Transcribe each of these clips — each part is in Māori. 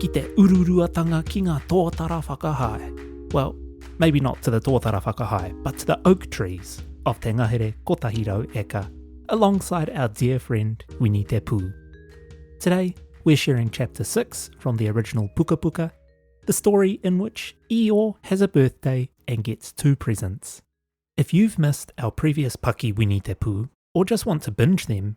ki te ururuatanga ki ngā tōtara whakahae. Well, maybe not to the tōtara whakahae, but to the oak trees of Te Ngahere Kotahi Rau Eka, alongside our dear friend Wini Te Pū. Today, we're sharing chapter 6 from the original Puka Puka, the story in which Io has a birthday and gets two presents. If you've missed our previous Paki Wini Te Pū, or just want to binge them,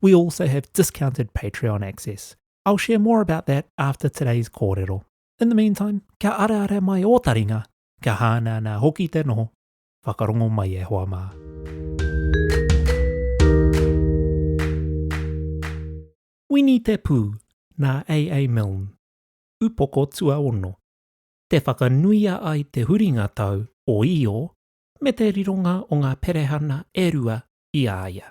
We also have discounted Patreon access. I'll share more about that after today's kōrero. In the meantime, kia arearea mai ō taringa, kia hānānā hoki te noho, whakarongo mai e hoa mā. Wini Te Pū, nā AA Milne, Upoko Tuaono. Te whakanuia ai te huringa tau o Io me te rironga o ngā perehana e rua i a ia.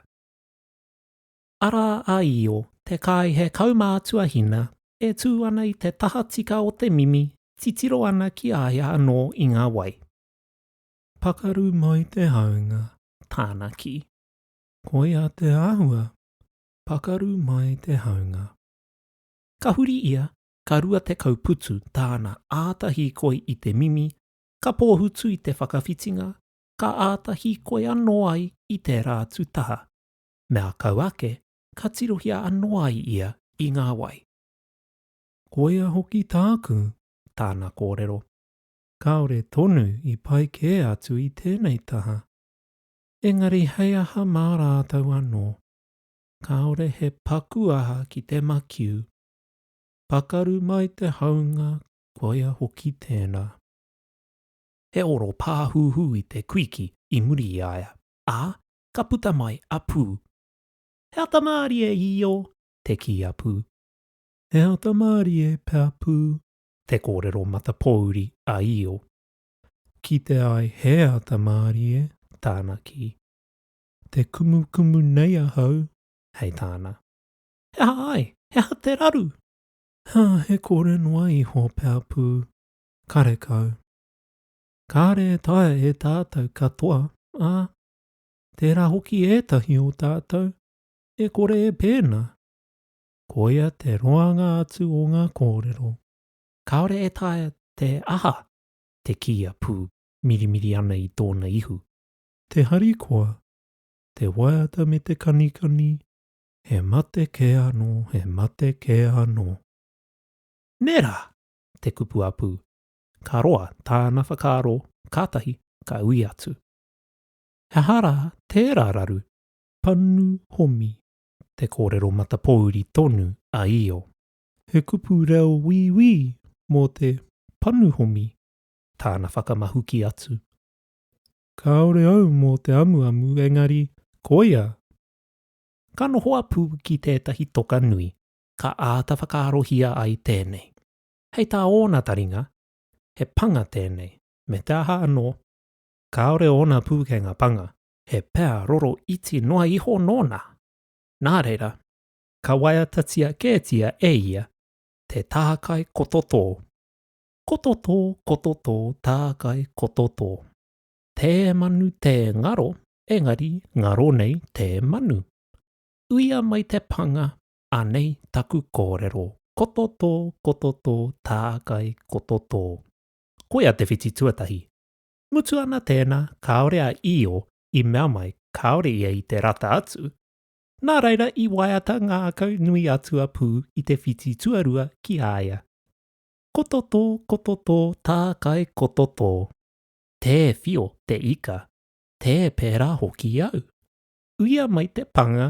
Arā a Io, te kāihe kaumātua hina, e tū ana i te tahatika o te mimi, titiro ana ki a ia anō i ngā wai. Pakaru mai te haunga, tāna kī. Koia te āhua, pakaru mai te haunga. Ka huri ia, ka rua tekau putu tāna āta hīkoi i te mimi, ka pōhutu i te whakawhitinga, ka āta hīkoi anō ai i tērā atu taha. Me ā kau ake, ka tirohia anō ai ia i ngā wai. Koia hoki tāku, tāna kōrero. Kāore tonu i pai kē atu i tēnei taha. Engari hei aha mā rātou anō? Kāore he paku aha ki te makiu. Pakaru mai te haunga, koia hoki tēnā. he oro pāhūhū i te kuiki i muri i a ia, ā, ka puta mai a Pū. He ata mārie i io, te kī a Pū. He ata mārie, pea Pū, te kōrero matapōuri a Io. Kite ai he ata mārie, tāna kī. Te kumukumu nei ahau, hei tāna. He aha ai? He aha te raru? He kore noa iho, pea Pū. karekau. Kāre e taea e tātou katoa, ā, tērā hoki ētahi o tātou e kore e pēnā. Koia te roanga atu o ngā kōrero. Kāore e taea te aha te kīia pū mirimiri ana i tōna ihu. Te harikoa, te waiata me te kanikani, he mate kē anō, he mate kē anō. Nē rā! te kupu a Pū. Ka roa tāna whakaaro kātahi ka ui atu. He aha rā tērā raru? Panu Homi, te kōrero matapōuri tonu a Io. He kupu reo wīwī mō te Panu Homi tāna whakamahuki atu. Kāore au mō te amuamu engari koia! Ka noho a Pū ki tētahi toka nui, ka āta whakaarohia ai tēnei. Hei tā ōna taringa, he panga tēnei, me te aha anō, kāore ōna pūkenga panga, he pea roro iti noa iho nōna. Nā reira, ka waiatatia kētia e ia te tākai kototō. Kototō, kototō, tākai kototō. Tē manu, tē ngaro, engari ngaro nei tē manu. Uia mai te panga, Anei taku kōrero, koto tō, koto tō, tākai, koto tō. Koia te whiti tuatahi. Mutu ana tēnā, kāore a Io i mea mai kāore ia i te rata atu, nā reira i waiata ngākau nui atu a Pū i te whiti tuarua ki a ia. Koto tō, koto tō, tākai, koto tō. Tē whio te ika, tē pērā hoki au. Uia mai te panga,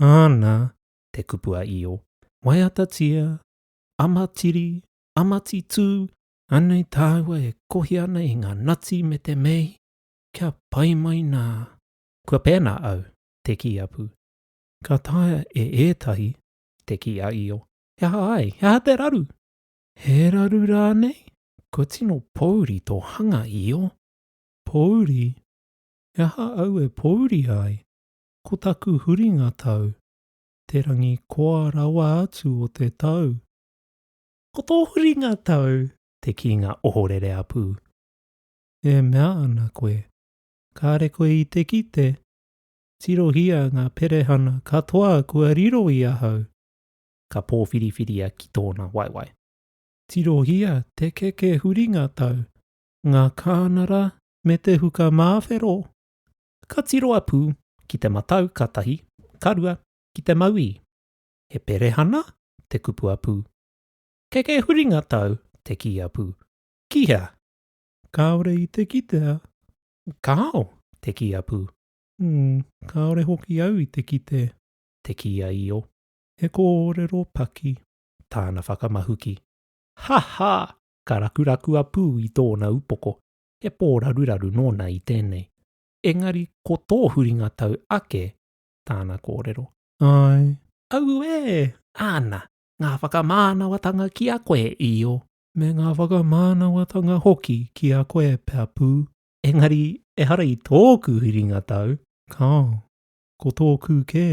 Ana te kupu a Io, Waiatatia, Amatiri, Amatitū, anei tāua e kohi ana i ngā nati me te mei, kia pai mai nā. Kua pēnā au, te kī a Pū. Ka taea e ētahi, te kī a Io. He aha ai, he aha te raru? He raru rānei? Kua tino pōuri tō hanga, Io. Pōuri? He aha au e pōuri ai? Ko taku huringa tau, te rangi koa rawa atu o te tau. Ko tō huringa tau, te kīnga ohorere a Pū. E mea ana koe, kāre koe i te kite, tirohia ngā perehana katoa kua riro i ahau, ka pōwhiriwhiria ki tōna waewae. Tirohia te keke huringa tau, ngā kānara me te huka māwhero, ka tiro a Pū ki te matau ka tahi, ka rua, ki te mauī. He perehana? te kupu a Pū. Keke huringa tau, te kī a Pū. Ki hea? Kāore i te kitea. Kāo, te kī a Pū. Ū, kāore hoki au i te kite. Te kī a Io. He kōrero paki. Tāna whakamahuki. Ha! ha! ka rakuraku a Pū i tōna upoko. he pō raruraru nōna i tēnei, engari ko tō huringa tau ake tāna kōrero. Āe. Auē! Āna, ngā whakamānawatanga ki a koe, Io. Me ngā whakamānawatanga hoki ki a koe, Peapu. Engari ehara i tōku huringa tau, Kāo. Ko tōku kē.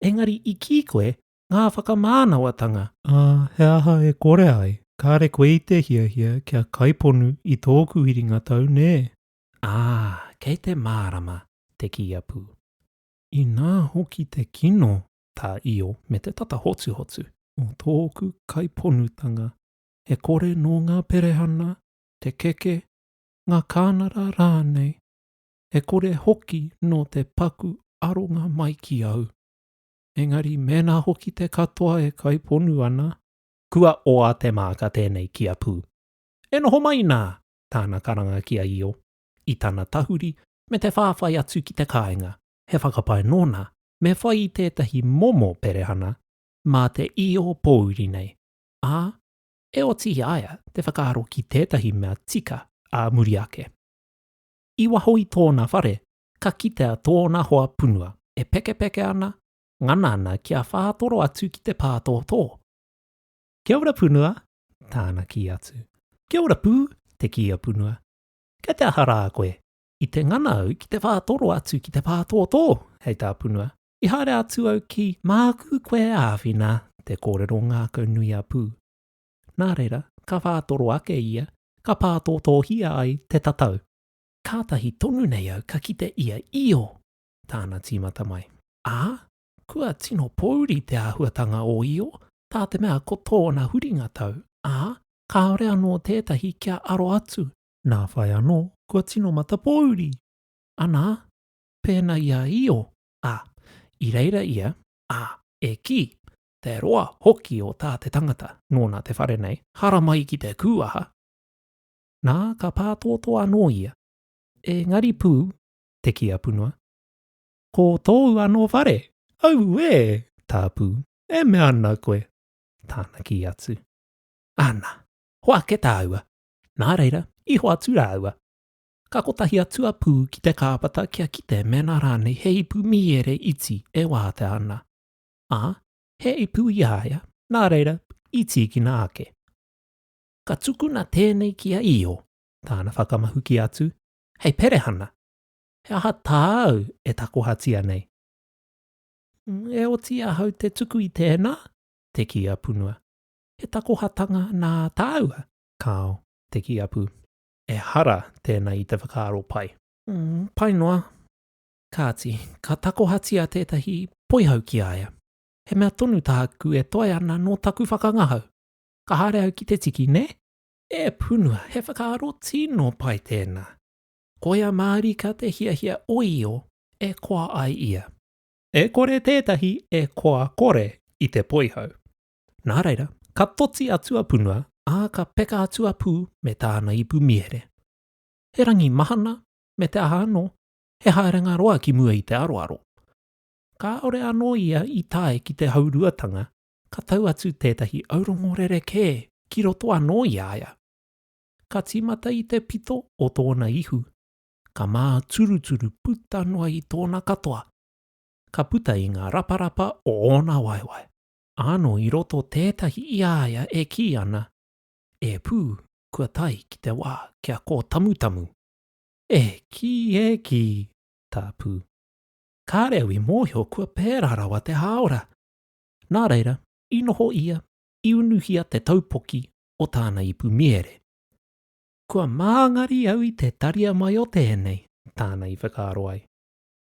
Engari i kī koe, ngā whakamānawatanga. Ā, he aha e kore ai? Kāre koe i te hiahia kia kaiponu i tōku iringa tau, nē? Ā, kei te mārama te kīapu. Inā hoki te kino tā Io me te tata hotuhotu. Mō tōku kaiponutanga, e kore nō ngā perehana, te keke, ngā kānara rānei, e kore hoki nō te paku aronga mai ki au. engari mēnā hoki te katoa e kaiponu ana, kua oa te māka tēnei ki a Pū. E noho mai nā tāna karanga ki a Io, i tana tahuri me te whāwhai atu ki te kāinga, he whakapae nōna me whai i tētahi momo perehana mā te Io pōuri nei, ā, e oti i a ia te whakaaro ki tētahi mea tika ā muri ake. I waho i tōna whare ka kitea tōna hoa punua e pekepeke ana, ngana ana kia whātoro atu ki te pātōtō. Kia ora punua, tāna kī atu. Kia ora pū, te kī a punua. Kei te aha rā koe? I te ngana au ki te whātoro atu ki te pātōtō, hei tā punua. I haere atu au ki māku koe āwhina, te kōrero ngākau nui a pū. Nā reira, ka whātoro ake ia, ka pātōtōhia ai te tatau. Kātahi tonu nei au ka kite ia io! tāna tīmata mai. Ā, kua tino pōuri te āhuatanga o io, tā te mea ko tōna huringa tau, ā, kāore anō tētahi kia aro atu, nā whai anō kua tino matapōuri! Anā, pēnā i a io, ā, i reira ia, ā, e kī, Te roa hoki o tā te tangata, nōna te whare nei, haramai ki te kūaha! nā, ka pātōtō anō ia. Engari pū, te kī a Punua, Ko tōu anō whare? Auē! tā Pū, E mea ana koe? Tāna kī atu. Ana, hoa ake tāua. Nā reira, i hoatu rāua. Ka kotahi atu a Pū ki te kāpata kia kite mēnā rānei he ipu mīere iti e wātea ana. Ā, he ipu i a ia, nā reira, i tīkina ake. ka tukuna tēnei ki a Io, tāna whakamahuki atu, Hei perehana, he aha tāu e takohatia nei? E oti ahau te tuku i tēnā, te kī a Punua. He takohatanga nā tāua? Kāo, te kī a Pū. Ehara tēnā i te whakaaro pai. Pai noa. Kāti, ka takohatia tētahi poihau ki a ia. He mea tonu tāku e toe ana nō taku whakangahau. Ka haere au ki te tiki, nē? E Punua, he whakaaro tino pai tēnā. Koia mārika te hiahia o Io e koa ai ia. E kore tētahi e koa kore i te poihau. Nā reira, ka toti atu a Punua, ā, ka peka atu a Pū me tāna ipu mīhere. He rangi mahana, me te aha anō, he haerenga roa ki mua i te aroaro. Kāore anō ia i tae ki te hauruatanga ka tau atu tētahi aurongo rerekē ki roto anō i a ia. Ka tīmata i te pito o tōna ihu, ka māturuturu puta noa i tōna katoa, ka puta i ngā raparapa o ōna waewae. Ānō i roto tētahi i a ia e kī ana, E pū, kua tae ki te wā kia kōtamutamu. E kī, e kī, tā Pū. Kāre au i mōhio kua pērā rawa te hāora. Nā reira, i noho ia, i unuhia te taupoki o tāna ipu mihere. Kua māngari au i te taria mai o tēnei, tāna i whakaaro ai.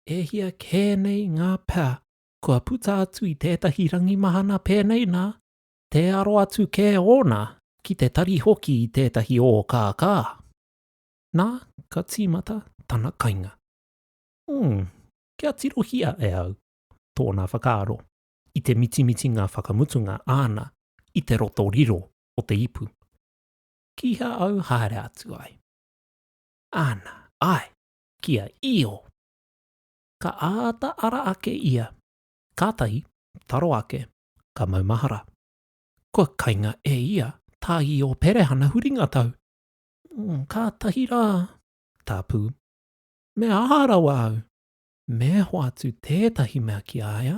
E hia kē nei ngā pea kua puta atu i tētahi rangi mahana pēnei nā, tē aro atu kē ōna ki te tari hoki i tētahi ōkākā. Nā, ka tīmata tana kainga. Umm, kia tirohia e au, tōna whakaaro i te mitimitinga whakamutunga āna i te roto riro o te ipu. Kīhā au haere atu ai. Āna, āe, kia io! Ka āta ara ake ia, kātahi, taro ake, ka maumahara. Kua kainga e ia tā Io Perehana huringa tau. Kātahi rā, tāpū. Me aha rawa au? Me hoatu tētahi mea ki a ia,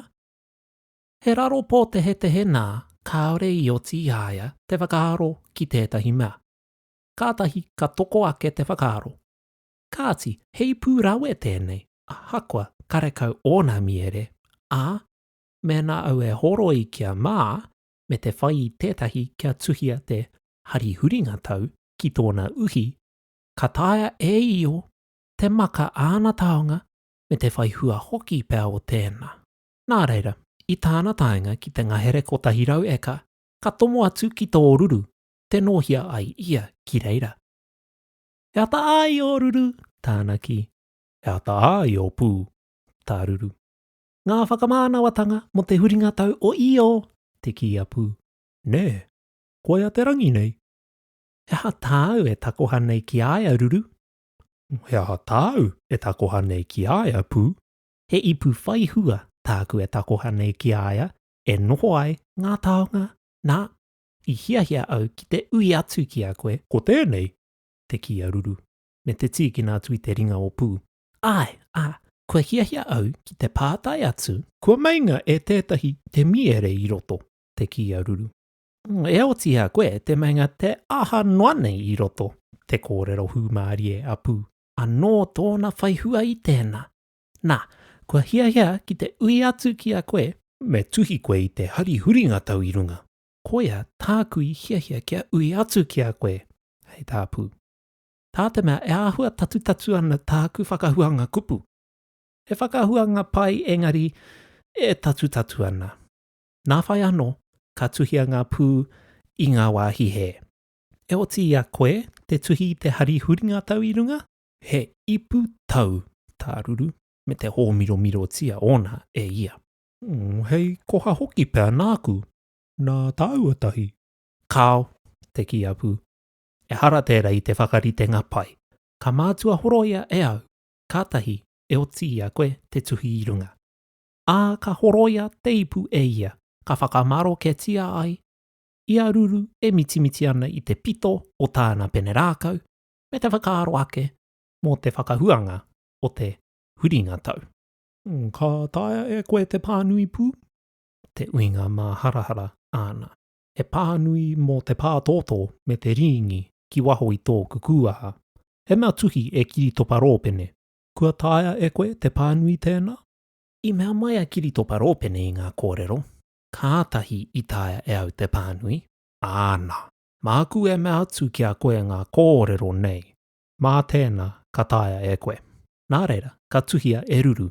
he raro pōtehetehe nā kāore i oti i a ia te whakaaro ki tētahi mea. Kātahi ka toko ake te whakaaro, kāti, heipū rawe tēnei, ahakoa karekau ōna mīere, ā, mēnā au e horoi kia mā, me te whai i tētahi kia tuhia te hari huringa tau ki tōna uhi, ka taea e io te maka āna taonga me te whai hua hoki pea o tēnā. Nā reira, i tāna taenga ki te ngahere kotahi rau eka, ka tomo atu ki tō ruru, te nōhia ai ia ki reira. He ata ā i ō ruru? tāna kī. He ata ā i ō pū? tā Ruru. Ngā whakamānawatanga mō te huringa tau o Io! te kī a Pū. Nē, koia te rangi nei. He aha tāu e takoha nei ki a ia, Ruru? He aha tāu e takoha nei ki a ia, Pū? He ipu whai hua tāku e takoha nei ki a ia e noho ai ngā taonga, nā, i hiahia au ki te ui atu ki a koe, ko tēnei te kī a Ruru, me te tīkina atu i te ringa o Pū. Āe, ā, kua hiahia au ki te pātai atu. Kua meinga e tētahi te mīere i roto, te kī a Ruru. E otiia koe te meinga te aha noa nei i roto te kōrero hūmārie a Pū. Anō tōna whaihua i tēnā. Nā, kua hiahia ki te ui atu ki a koe. Me tuhi koe i te hari huringa tau i runga. Koia tāku i hiahia kia ui atu ki a koe, hei tā Pū. Tā te mea e āhua tatutatu ana tāku whakahuanga kupu. He whakahuanga pai engari e tatutatu ana. Nā whai anō ka tuhia ngā pū i ngā wāhi hē. E oti i a koe te tuhi i te hari huringa tau i runga? He ipu tau tā Ruru me te hōmiromirotia ōna e ia. Ū, hei koha hoki pea nāku, nā tāua tahi. Kāo, te kī a Pū. Ehara tērā i te whakaritenga pai. Ka mātua horoia e au, kātahi e oti i a koe te tuhi i runga. ā, ka horoia te ipu e ia, ka whakamaroketia ai ia ruru e mitimiti ana i te pito o tāna pene rākau, me te whakaaro ake mō te whakahuanga o te huringa tau. Ka taea e koe te pānui pū? Te uinga māharahara āna. He pānui mō te pātōtō me te rīngi ki waho i tōku kūaha. He mea tuhi e Kiritopa Rōpene, Kua taea e koe te pānui tēnā? I mea mai a Kiritopa Rōpene i ngā kōrero, Kātahi i taea e au te pānui, āna. Māku e mea atu ki a koe ngā kōrero nei, mā tēnā ka taea e koe. Nā reira, ka tuhia e Ruru,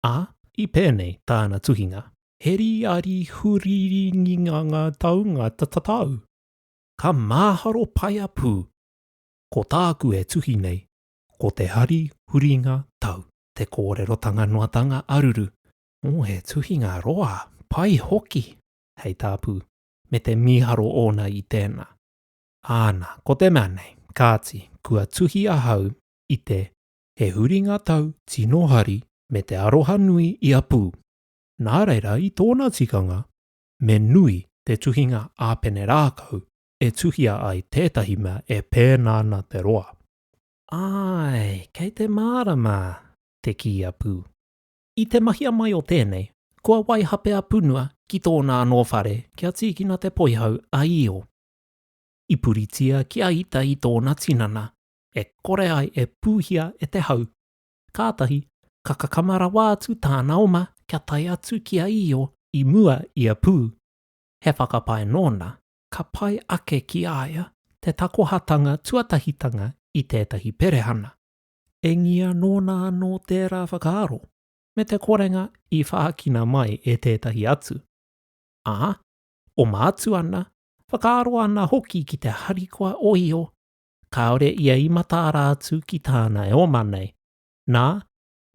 ā, i pēnei tāna tuhinga. He rīari huriringinga ngā taunga tatatau. Ka māharo pai a Pū. Ko tāku e tuhi nei, ko te hari huringa tau. te kōrerotanga noatanga aruru, ō, he tuhinga roa, pai hoki, hei tā Pū, me te mīharo ōna i tēnā. Āna, ko te mea nei, kāti, kua tuhi ahau i te He huringa tau tino hari me te aroha nui i a Pū. Nā reira, i tōna tikanga, me nui te tuhinga a Penerākau e tuhia ai tētahi mea e pēnā ana te roa. Āe, kei te mārama! te kī a Pū. I te mahia mai o tēnei, kua waihape a Punua ki tōna anō whare kia tīkina te poihau a Io. I puritia ki a Ita i tōna tinana, e kore ai e pūhia e te hau. Kātahi, ka kakama rawa atu tāna oma kia tae atu ki a Io i mua i a Pū, he whakapae nōna, ka pai ake ki a ia te takohatanga tuatahitanga i tētahi perehana, engia nōna anō tērā whakaaro me te korenga i whākina mai e tētahi atu, ā, oma atu ana, whakaaro ana hoki ki te harikoa ohio kāore ia i mataara atu ki tāna e oma nei, nā,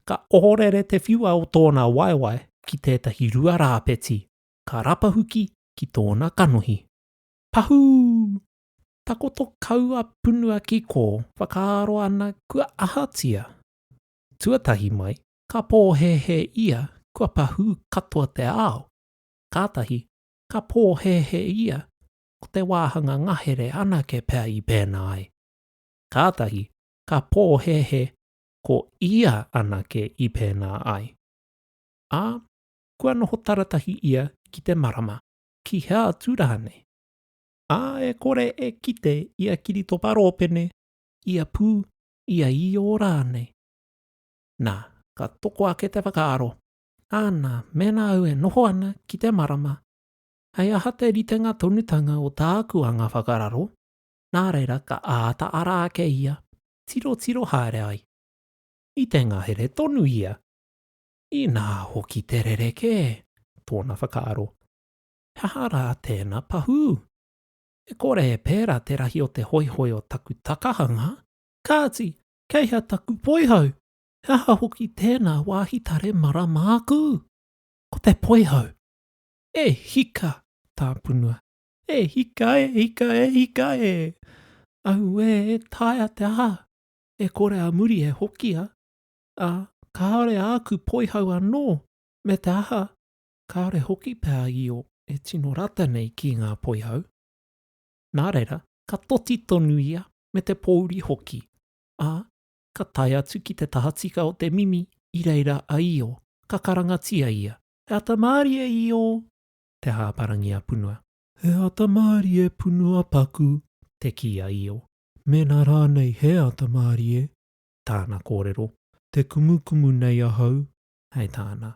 ka ohorere te whiua o tōna waewae ki tētahi rua rāpeti, ka rapahuki ki tōna kanohi. Pahū! Takoto kau a Punua ki kō, whakaaro ana kua ahatia? Tuatahi mai, ka pōhēhē ia kua pahū katoa te ao, kātahi ka pōhēhē ia ko te wāhanga ngahere anake pea i pēnā ai, kātahi ka pōhēhē ko ia anake i pēnā ai. Ā, kua noho taratahi ia ki te marama, ki hea atu rānei. Ā, e kore e kite ia kiritopa rōpene, ia pū, ia īō rānei. Nā, ka toko ake te whakaaro, Āna, mēnā au e noho ana ki te marama, hei aha te ritenga tonutanga o tāku anga whakararo, nā reira ka āta ara ake ia, tirotiro haere ai. I te ngahere tonu ia. Inā hoki te rerekē, tōna whakaaro, he aha rā tēna pahū? E kore e pērā te rahi o te hoihoi o taku takahanga, kāti, kei hea taku poihau? He aha hoki tēnā wāhi tare mara māku? Ko te poihau! E hika! tāpunua, e hika, e hika, e hika e! Auē, e taea te aha! E kore a muri e hokia, ā, kāore āku poihau anō, me te aha, kāore hoki pea io e tino rata nei ki ngā poihau. Nā reira, ka toti tonu ia me te pōuri hoki, ā, ka tae atu ki te tahatika o te mimi i reira a Io, ka karangatia ia, He ata māri e Io! Te hāparangi a Punua. He ata māri e Punua paku! te kī a Io. Mēnā rānei he ata māri e, tāna kōrero. Te kumukumu nei ahau, hei tāna.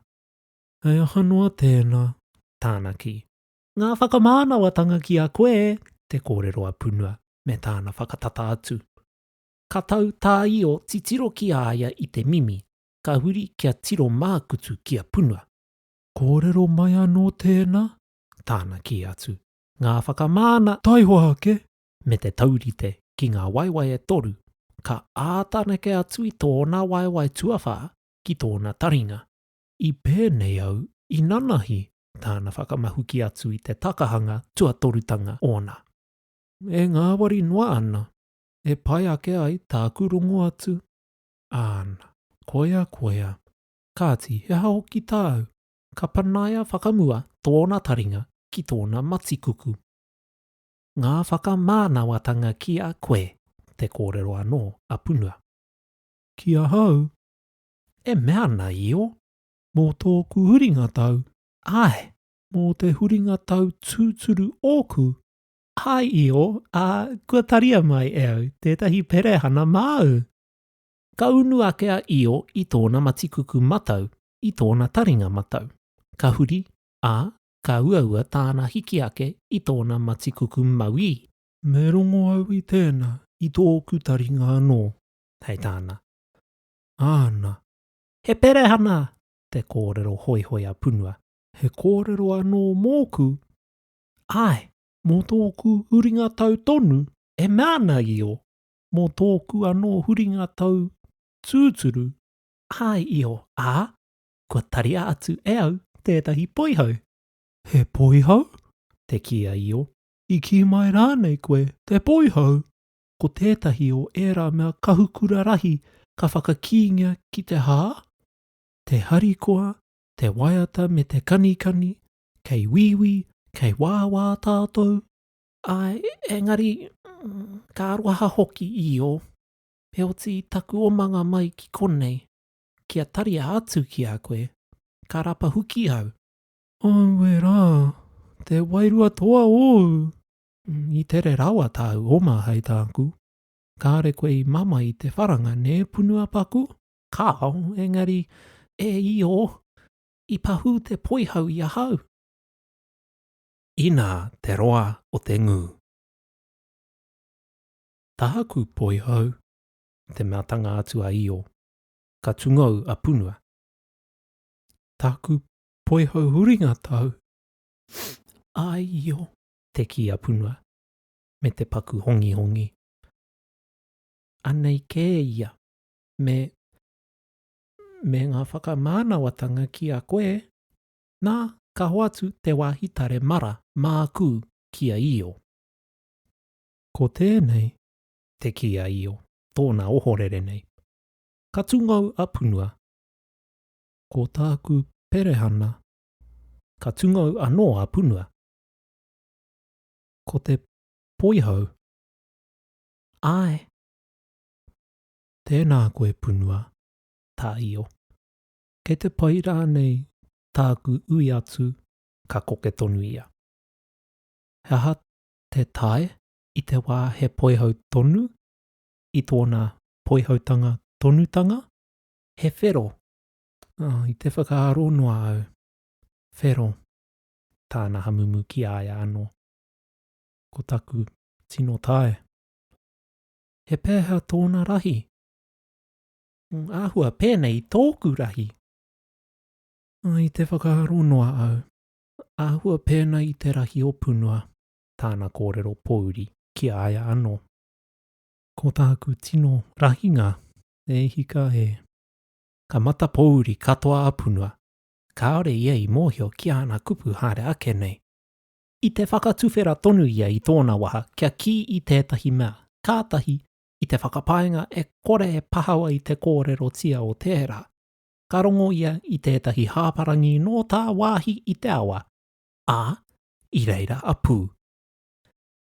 He aha noa tēnā, tāna kī. Ngā whakamānawatanga ki a koe, te kōrero a Punua, me tāna whakatata atu. Ka tau tā Io titiro ki a ia i te mimi, ka huri kia tiro mākutu ki a Punua. Kōrero mai anō tēnā, tāna kī atu. Ngā whakamāna. Taihoa ake, me te taurite ki ngā waewae e toru, ka āta neke atu i tōna waewae tuawhā ki tōna taringa. I pēnei au i nanahi tāna whakamahuki atu i te takahanga tuatorutanga ōna. E ngāwari noa ana, e pai ake ai tāku rongo atu, āna. Koia, koia. Kāti, he aha hoki tāu? Ka panaia whakamua tōna taringa ki tōna matikuku. ngā whakamānawatanga ki a koe, te kōrero anō a Punua. Ki ahau, e mea ana io, mō tōku huringa tau, āe, mō te huringa tau tūturu ōku, āe io, ā, kua taria mai e au tētahi perehana māu. Ka unu ake a Io i tōna matikuku matau, i tōna taringa matau. Ka huri, ā, ka uaua tāna hiki ake i tōna matikuku mauī. Me rongo au i tēnā, i tōku taringa anō, hei tāna. Āna. He perehana! te kōrero hoihoi a Punua. He kōrero anō mōku? Āe, mō tōku huringa tau tonu, e mea ana Io, mō tōku anō huringa tau tūturu, āe Io, ā, kua taria atu e au tētahi poihau. He poihau? te kī a Io. I kī mai rānei koe te poihau? Ko tētahi o ērā mea kahukura rahi ka whakakīngia ki te hā? Te harikoa, te waiata me te kanikani, kei wīwī, kei wāwā tātou? Āe, engari, ka aroha hoki, Io. Heoti, taku omanga mai ki konei, kia taria atu ki a koe, ka rapa huki au. Aue rā, te wairua toa ōu! I tere rawa tāu oma hei tāku. Kāre koe i mama i te wharanga, nē, Punuapaku? Kāo, engari, e Io, i pahū te poihau i ahau. Inā te roa o te ngū. Tāku poihau, te matanga atu a Io. ka tungou a Punua. Taku poihau huringa tau, aio. Te kī a Punua, me te paku hongihongi. Anei kē ia, me, me ngā whakamānawatanga ki a koe, nā, ka hoatu te wāhi tare mara māku ki a Io. Ko tēnei, te kī a Io. tōna ohorere nei. Ka tungou a Punua. Ko tāku perehana. Ka tungou anō a Punua. Ko te poihau. Āe. Tēnā koe Punua, tā Io. Kei te pai rānei tāku ui atu, ka koke tonu ia. He aha te tae i te wā he poihau tonu, i tōna poihautanga tonutanga, he whero, oh, i te whakaaro noa au, whero, tāna hamumu ki a ia anō. Ko taku tino tae. He pēhea tōna rahi? Mm, āhua pēnei i tōku rahi. I te whakaaro noa au, āhua pēnei i te rahi o punua. tāna kōrero pōuri ki a ia anō. Ko tāku tino rahinga, e hika e. Ka mata pōuri katoa a Punua, kāore ia i mōhio ki āna kupu haere ake nei. I te whakatuwhera tonu ia i tōna waha kia kī i tētahi mea, kātahi, i te whakapaenga e kore e pahawa i te kōrerotia o tērā. Ka rongo ia i tētahi hāparangi nō tāwāhi i te awa, ā, i reira a Pū.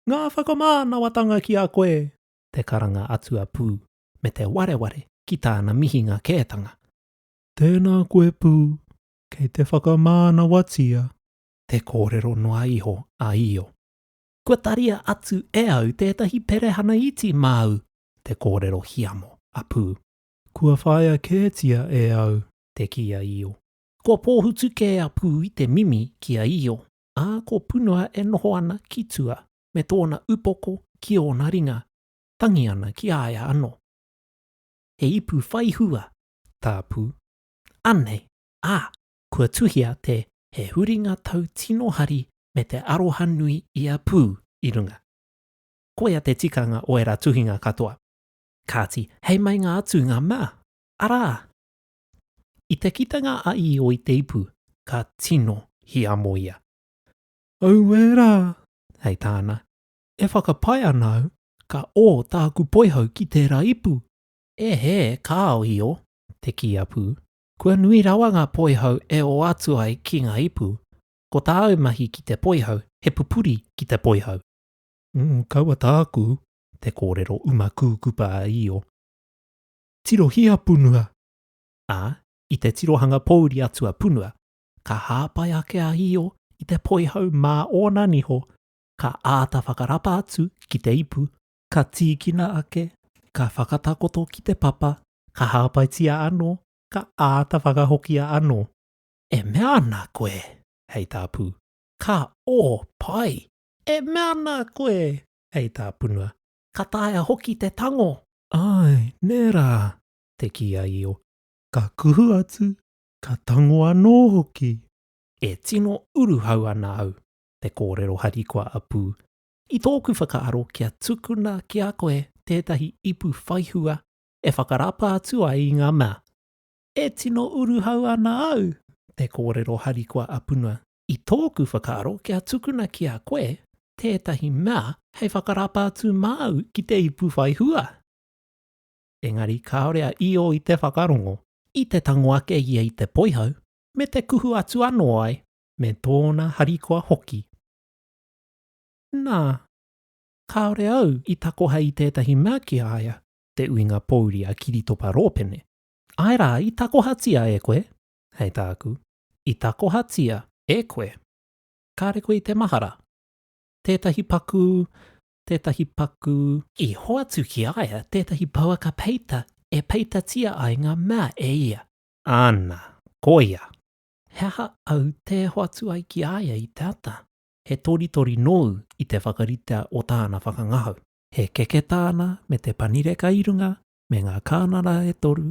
Ngā whakamānawatanga ki a koe, te karanga atu a Pū, me te wareware ki tāna mihinga kētanga. Tēnā koe Pū, kei te whakamānawatia. Te kōrero noa iho a Io. Kua taria atu e au tētahi perehana iti māu, te kōrero hiamo a Pū. Kua whāia kētia e au. Te kī a Io. Kua pōhutu kē a Pū i te mimi ki a Io, ā, ko Punua e noho ana ki tua me tōna upoko ki ōna ringa, tangi ana ki a ia anō. He ipu whai hua tā Pū. Anei, ā, kua tuhia te He huringa tau tino hari me te aroha nui i a Pū i runga. Koia te tikanga o ērā tuhinga katoa. Kāti, hei meinga atu ngā mea, arā, I te kitenga a Io i te ipu, ka tino hiamo ia. Auē rā! hei tāna, e whakapae ana au, ka ō tāku poihau ki tērā ipu. E hē, kāo Io, te kī a Pū, kua nui rawa ngā poihau e ō atu ai ki ngā ipu, ko tāu mahi ki te poihau, he pupuri ki te poihau. Ū, kaua tāku, te kōrero uma kūkupa a Io. Tirohia punua, ā, i te tirohanga pōuri atu a punua, ka hāpai ake a Io i te poihau mā ōna niho, ka āta whakarapa atu ki te ipu, ka tīkina ake, ka whakatakoto ki te papa, ka hāpaitia anō, ka āta whakahokia anō. E mea ana koe, hei tā Pū, ka ō pai! E mea ana koe, hei tā punua, Ka taea hoki te tango. Āe, nē rā, te kī a Io. Ka kuhu atu, ka tango anō hoki. E tino uruhau ana au, te kōrero harikoa a Pū. I tōku whakaaro kia tukuna ki a koe tētahi ipu whaihua e whakarapa atu ai i ngā mea. E tino uruhau ana au, te kōrero harikoa a Punua. I tōku whakaaro kia tukuna ki a koe tētahi mea hei whakarapa atu māu ki te ipu whai hua. Engari kāore a Io i te whakarongo, i te tango ake ia i te poihau, me te kuhu atu anō ai me tōna harikoa hoki. Nā, kāore au i takoha i tētahi mea ki a ia, te uinga pōuri a Kiritopa Rōpene. Āe rā, i takohatia e koe, hei tāku, i takohatia e koe, kāre koe i te mahara, tētahi pakū, tētahi pakū, i hoatu ki a ia tētahi pouaka peita e peitatia ai ngā mea e ia. Āna, koia, he aha au tē hoatu ai ki a ia i te ata? He toritori nōu i te whakaritea o tāna whakangahau. He keke tāna me te panireka i runga, me ngā kānara e toru,